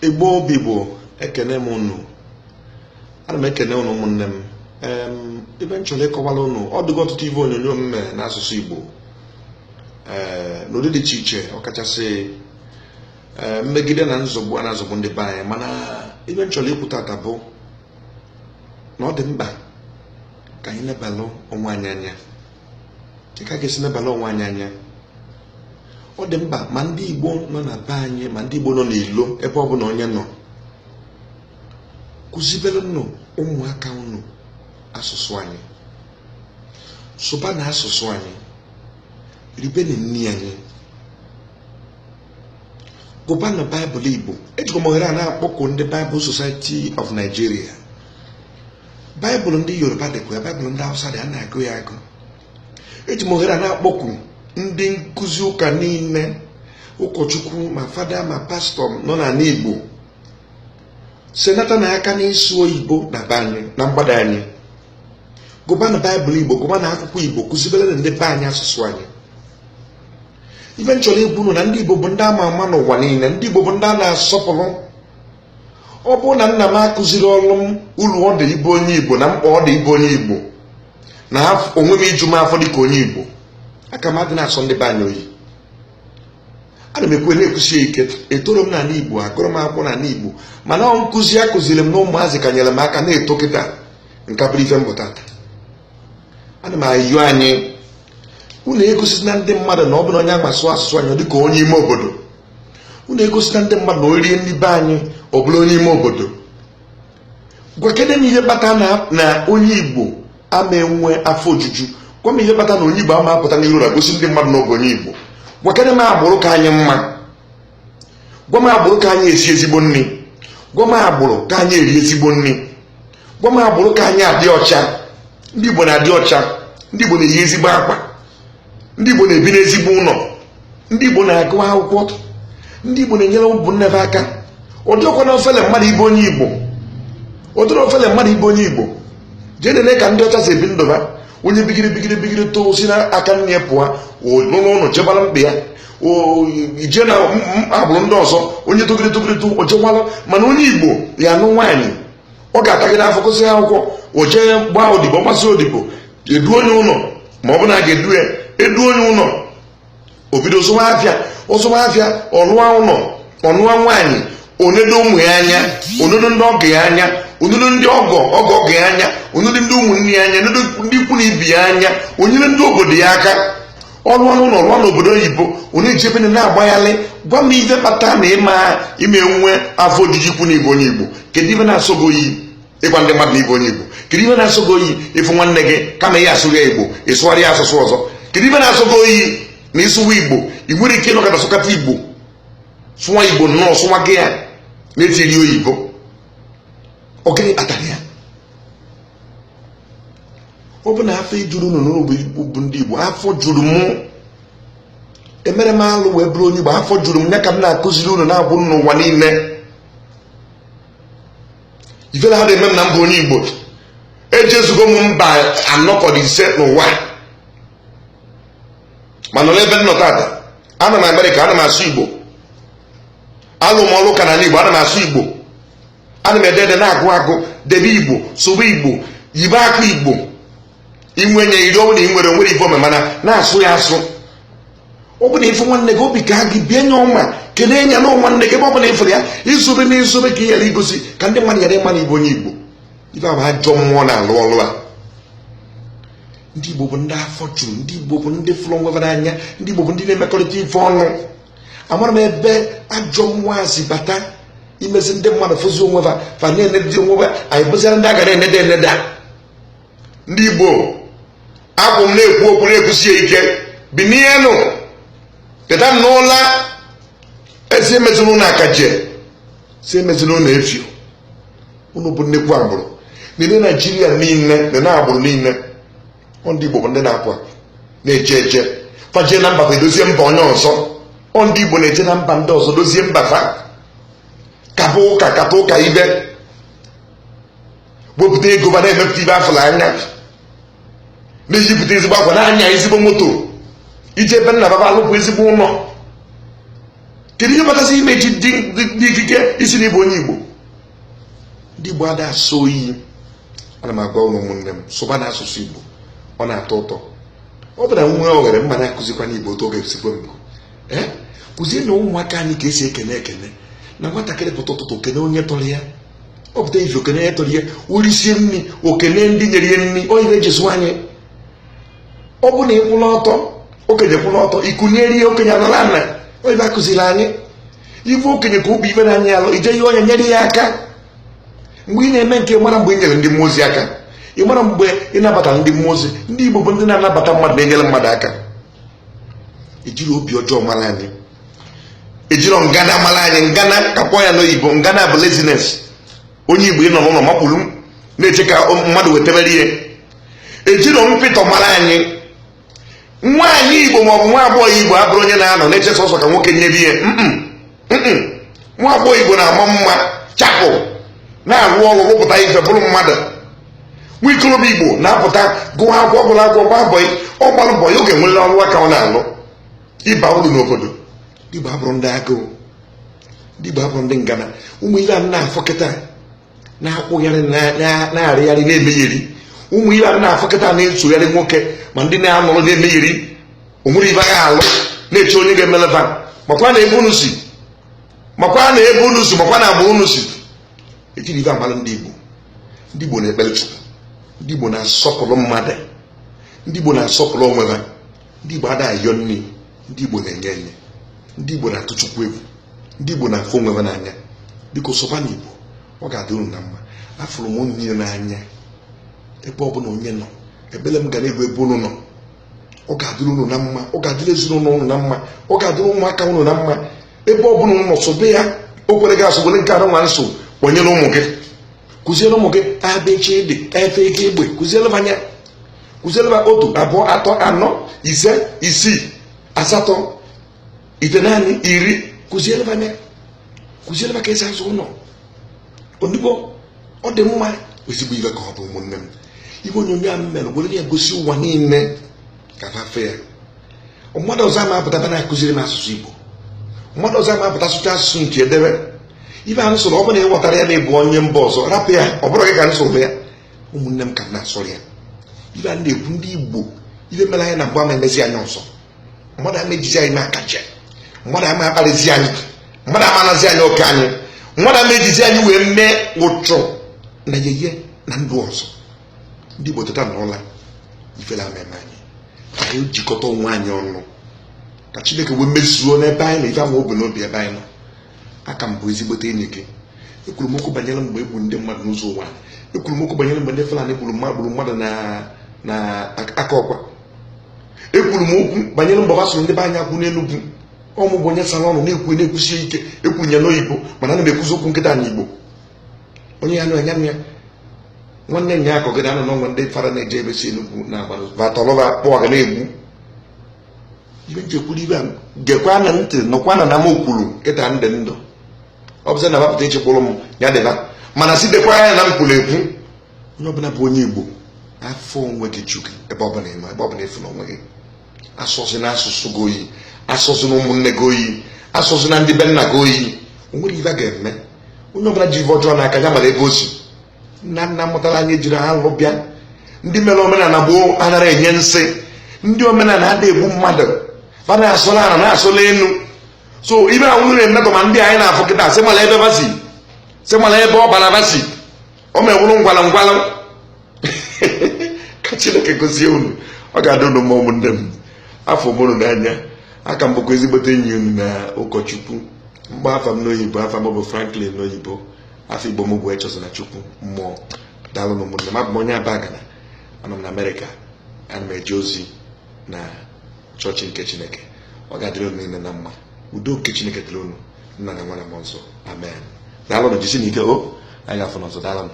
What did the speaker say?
igbo bụ igbo ekene m unu ana m ekene unu ụmụnne m ife m chọrọ ịkọwara unu ọ dịgo ọtụtụ ife onyonyo m mere n'asụsụ igbo ee n'ụdị dị iche iche ọkachasị ee mmegide na nzọgbu a na-azọgbu ndị be anyị mana ife m chọrọ ikwu taata bụ na ọ dị mkpa ka anyị lebalụ onwe anyị anya dị ka a ga-esi nebalụ onwe anyị anya ọ dị mkpa ma ndị Igbo nọ na be anyị ma ndị Igbo nọ n'ilo ebe ọ bụla onye nọ kụziberenụ ụmụaka unu asụsụ anyị sụbanụ asụsụ anyị ribeni nri anyị gụbanụ baịbụl igbo ejikwa m ohere a na-akpọku ndị bible society of nigeria baịbụl ndị yoruba dịkwa ya baịbụl ndị hausa dị ya a na-agụ ya agụ eji m ohere a na-akpọku ndị nkụzi ụka niile ụkọchukwu ma fada ma pastọ nọ n'ala igbo senatanụ aka n'ịsụ oyibo na be anyị na mgbada anyị gụbanụ baịbụl igbo gụbanụ akwụkwọ igbo kụzibere ndị be anyị asụsụ anyị ife m chọrọ ikwu na ndị Igbo bụ ndị ama ama n'ụwa niile ndị Igbo bụ ndị a na-asọpụrụ ọ bụrụ na nna m akụzirọlụ m uru ọ dị ịbụ onye Igbo na mkpa ọ dị ịbụ onye Igbo na onwe m iju m afọ dịka onye Igbo aka m adị na-asọ ndị be anyị oyi ana m ekwu na-ekwusi ya ike etoro m n'ala Igbo agụrụ m akwụkwọ n'ala Igbo mana ọ nkụzi a kụziri m na ụmụazị ka nyere m aka na-eto kịta m ka bụrụ ife m bụ taa ana m ayọ anyị unu egosina ndị mmadụ na ọ bụ na onye ma asụ asụsụ anyị dị ka onye ime obodo unu egosina ndị mmadụ na o rie nri be anyị ọ bụlụ onye ime obodo gwakene m ihe kpata na onye igbo ama enwe afọ ojuju gwa m ihe kpata na onye igbo ama apụta n'iru na-egosi ndị mmadụ na ọ bụ onye igbo gwakene m agbụrụ ka anyị mma gwa m agbụrụ ka anyị esi ezigbo nri gwa m agbụrụ ka anyị eri ezigbo nri gwa m agbụrụ ka anyị adị ọcha ndị Igbo na-adị ọcha ndị Igbo na-eyi ezigbo akwa ndị Igbo na-ebi n'ezigbo ụlọ ndị Igbo na-agụ akwụkwọ ndị Igbo na-enyere ụmụ nne ha aka ọ dịkwanụ ofele mmadụ ịbụ onye Igbo ọ dịrọ ofele mmadụ ịbụ onye Igbo jee nene ka ndị ọcha si ebi ndụ ha onye bigiri bigiri bigiri too si n'aka nne ya pụọ n'ụlọ ụlọ chebara mkpa ya i jee na agbụrụ ndị ọzọ onye togide togide too mana onye Igbo ya-anụ nwaanyị ọ ga-atagide afụ gụsị akwụkwọ o jee gbaa odibo gbasịa odibo e duo ya ụlọ ma ọ bụ na a ga-edu ya e duo ya ụlọ o bido zụwa afịa ọ zụwa afịa ọ lụwa ụlọ ọ nụwa nwaanyị o nedo ụmụ ya anya o nedo ndị ọgọ ya anya o nedo ndị ọgọ ọgọ ọgọ ya anya o nedo ndị ụmụnne ya anya o nedo ndị ikwu na ibe ya anya o nyere ndị obodo ya aka ọrụ ọrụ na ọrụ n'obodo oyibo onye ji ebe na-agbaghalị gwa m ihe kpata na ị ma enwe afọ ojuju ikwu na ị bụ onye igbo kedu ife na-asọ gị oyi ịgwa ndị mmadụ na ị bụ onye igbo kedu ife na-asọ gị oyi ị fụ nwanne gị kama ị ya-asụrụ ya igbo ị sụwara ya asụsụ ọzọ kedu ife na-asọ gị oyi na ịsụwa igbo ị nwere ike ịnọkọta sụkata igbo sụwa igbo nnọọ sụwa gị ya na-etiri oyibo ọ gịnị kpatara ya ọ bụ na afọ ejuro unu na unu bụ ndị Igbo afọ juru m emerọ m alụ wee bụrụ onye Igbo afọ juru m ya ka m na-akụziri unu na-abụ n'ụwa niile ifele adị eme m na m bụ onye Igbo ejezugo m mba anọ ka ọ dị ise n'ụwa mana n'ebe m nọ tata anọ m Amerịka ana m asụ Igbo alụ m ọlụ ụka na Igbo ana m asụ Igbo ana m ede ede na-agụ agụ debe igbo sụba igbo yibe akwa igbo inwe nye iri ọ bụ na ị nwere o nwere ife omemana na-asụ ya asụ ọ bụ na ị fụ nwanne gị obi kaa gị bie nya ọma kelee nya na nwanne gị ebe ọ bụla ị fụrụ ya izobe na izobe ka ị ghara igosi ka ndị mmadụ ghara ịma na ị bụ onye igbo ife a bụ ajọ mmụọ na-alụ ọlụ a ndị igbo bụ ndị afọ juru ndị igbo bụ ndị fụrụ onwe fa n'anya ndị igbo bụ ndị na-emekọrịta ife ọnụ amarọ m ebe ajọ mmụọ a si bata mezie ndị mmadụ fụzie onwe fa fa na-enedị onwe fa anyị bụzịara ndị a ga na-eneda eneda a ndị igbo abụ m na-ekwu okwu na-ekwusi ya ike binienụ teta n'ụla a sị emezila unu akaje sị emezila unu efio unu bụ nnekwu agbụrụ n'ime naijiria niile na na agbụrụ niile ndị Igbo bụ ndị na-apụ apụ na-eje eje fa jee na mba fa edozie mba onye ọzọ ndị Igbo na-eje na mba ndị ọzọ dozie mba fa kaba ụka kata ụka ibe wepụta ego fa na-emepụta ife a fụlụ anya na-eyipụta ezigbo akwa na-anya ezigbo moto e jee be nna fa fa alụpụ ezigbo ụlọ kedu ihe kpatara ị ma ejide ikike ịsị na ị bụ onye Igbo ndị Igbo ada asọ oyi ana m agwa unu ụmụnne m sụbanụ asụsụ Igbo ọ na-atọ ụtọ ọ bụla nwa o ghere mma na-akụzikwa n'Igbo otu oge esikwe mbụ ee kụzienụ ụmụaka anyị ka esi ekene ekene na nwatakịrị pụta ụtụtụ o kene onye tọrọ ya ọ pụta ife o kene onye tọrọ ya o risie nri o kene ndị nyere ya nri ọ ihe e ji zụọ anyị ọ bụ na ịkwụla ọtọ okenye kwụla ọtọ i kunie okenye anọlụ ana ọ ife a kụziri anyị ị fụ okenye ka o bu ife na-anyị alụ ị jee nyere ya aka mgbe ị na-eme nke a ị marọ mgbe ị nyere ndị mmụọ ozi aka ị marọ mgbe ị nabata ndị mmụọ ozi ndị igbo bụ ndị na-anabata mmadụ na-enyere mmadụ aka ejirọ obi ọjọọ mara anyị ejirọ ngana mara anyị ngana ka m kpọọ ya n'oyibo ngana bụ laziness onye igbo ị nọ n'ụlọ makpuru na-eche ka mmadụ wetebere ihe ejiro mpịtọ mara anyị nwaanyị igbo maọbụ nwa agbọghọ igbo abụrọ onye na-anọ na-eche sọsọ ka nwoke nyebe ihe nwa agbọghọ igbo na-ama mma chapụ na-arụ ọrụ rụpụta ife bụrụ mmadụ nwa ikorobịa igbo na-apụta gụọ akwụkwọ ọ bụrọ akwụkwọ gbaa bọị ọ gbarọ bọị ọ ga-enwere ọrụ aka ọ na-alụ ịba uru n'obodo ndị igbo abụrọ ndị agụụ ndị igbo abụrọ ndị ngana ụmụ ihe a na-afụ kịta na-akwụgharị na-arịgharị na-emegheri ụmụ ibe a na-afọkọta na-esogharị nwoke ma ndị na-anọrọ na-emegheri onwere ibe agha alụ na-eche onye ga-emeleba makwa na ebe unu si makwa na ebe unu si makwa na agba unu si ejiri ibe agbara ndị Igbo ndị Igbo na-ekpere Chukwu ndị Igbo na-asọpụrụ mmadụ ndị Igbo na-asọpụrụ onwe ha ndị Igbo ada ayọ nri ndị Igbo na-enye enye ndị Igbo na-atụ Chukwu egwu ndị Igbo na-afụ onwe ha n'anya biko sụbanụ Igbo ọ ga-adị unu na mma afụrụ m unu niile n'anya ebe ọ bụla onye nọ ebele m ga na-egbu ebe unu nọ ọ ga-adịrị unu na mma ọ ga-adịrị ezinụlọ unu na mma ọ ga-adịrị ụmụaka unu na mma ebe ọ bụla unu nọ sụba ya o kwerọ gị asụ were nke a nụnwa m sụ kpọnyere ụmụ gị kụziere ụmụ gị a b ch d e f g gb kụziere ha ya kụziere ha otu abụọ atọ anọ ise isii asatọ itenaanị iri kụziere ha ya kụziere ha ka esi agụ ọnụ n'Igbo ọ dị mma ezigbo iwe ka ọ bụ ụmụnne m iwe onyonyo a m mere were ya gosi ụwa niile ka ha fụ ya mmadụ ọzọ ama apụta bịa na-akụziri m asụsụ Igbo mmadụ ọzọ ama apụta sụcha asụsụ nke edebe ife a m sụrụ ọ bụrụ na ị ghọtarọ ya na ịbụ onye mba ọzọ rapụ ya ọ bụrọ gị ka m sụrụ ya ụmụnne m ka m na-asụrụ ya ife a na-ekwu ndị Igbo ife mere anyị na mbụ ama emezi anyị ọzọ mmadụ ama ejizi anyị eme akaje mmadụ ama akparịzi anyị mmadụ ama anazi anyị oke anyị mmadụ ama ejizi anyị wee mee ụchụ na yeye na ndụ ọzọ ndị Igbo teta na ụla ifele ama eme anyị ka anyị jikọta onwe anyị ọnụ ka Chineke wee mezuo n'ebe anyị nọ ife o bu n'obi ebe anyị nọ aka m bụ ezigbote enyi gị ekwuru m okwu banyere mgbe egburu ndị mmadụ n'Ụzọ Ụwanị ekwuru m okwu banyere mgbe ndị Fulani gburu gburu mmadụ na Akọkwa ekwuru m okwu banyere mgbe gbasoro ndị be anyị akwụ n'Enugwu ọ mụ bụ onye sara ọnụ na-ekwu na-ekwusie ike ekwu ya n'oyibo mana ana m ekwuzi okwu kịta na Igbo onye ayana nwanne ya akọgide anụ n'ọnwa ndị fara na-eje ebe si enugwu na agbara batọlọba akpọ ga na-egbu ibe nchekwuru ibe a gekwanụ ntị nụkwanụ na m kwuru kịta ndị ndụ ọ bụzi na bapụta ichekwụrụ m ya dịba mana si dekwa ya na m kwuru ekwu onye ọbụla bụ onye igbo afọ onwe gị chukwu ebe ọbụla ị nọ ebe ọbụla ị fụrụ onwe gị asọzina asụsụ gị oyi asọzina ụmụnne gị oyi asọzina ndị be nna gị oyi o nwere ife a ga-eme onye ọbụna ji ife ọjọọ n'aka ya malụ ebe o si nna nna mụtalụ anyị jiri alụ bịa ndị melu omenana gboo anara enye nsị ndị omenana ada egbu mmadụ fa na-asọlụ ana na-asọlụ enu so ibe ahụ nwere mmetọ ma ndị anyị na-afụ kịta sị malụ ebe fa si sị malụ ebe ọbala fa si o mewụrụ ngwanụ ngwanụ ka chineke gozie unu ọ ga-adịrị unu mma ụmụnne m afụrụ m unu n'anya aka m bụkwa ezigbote enyi unu na ụkọchukwu mgbe afa m n'oyibo afa m bụ franklin n'oyibo afa igbo m bụ echezona chukwu mmụọ daalụnụ ụmụnne m abụ m onye abagana anọ m na amerịka ana m eje ozi na chọọchị nke chineke ọ ga-adịrị unu niile na mma udo nke chineke dịrị unu nna na nwa na mmụọ nsọ amen daalụnụ jisienụ ike o anyị ga-afụ unu ọzọ daalụnụ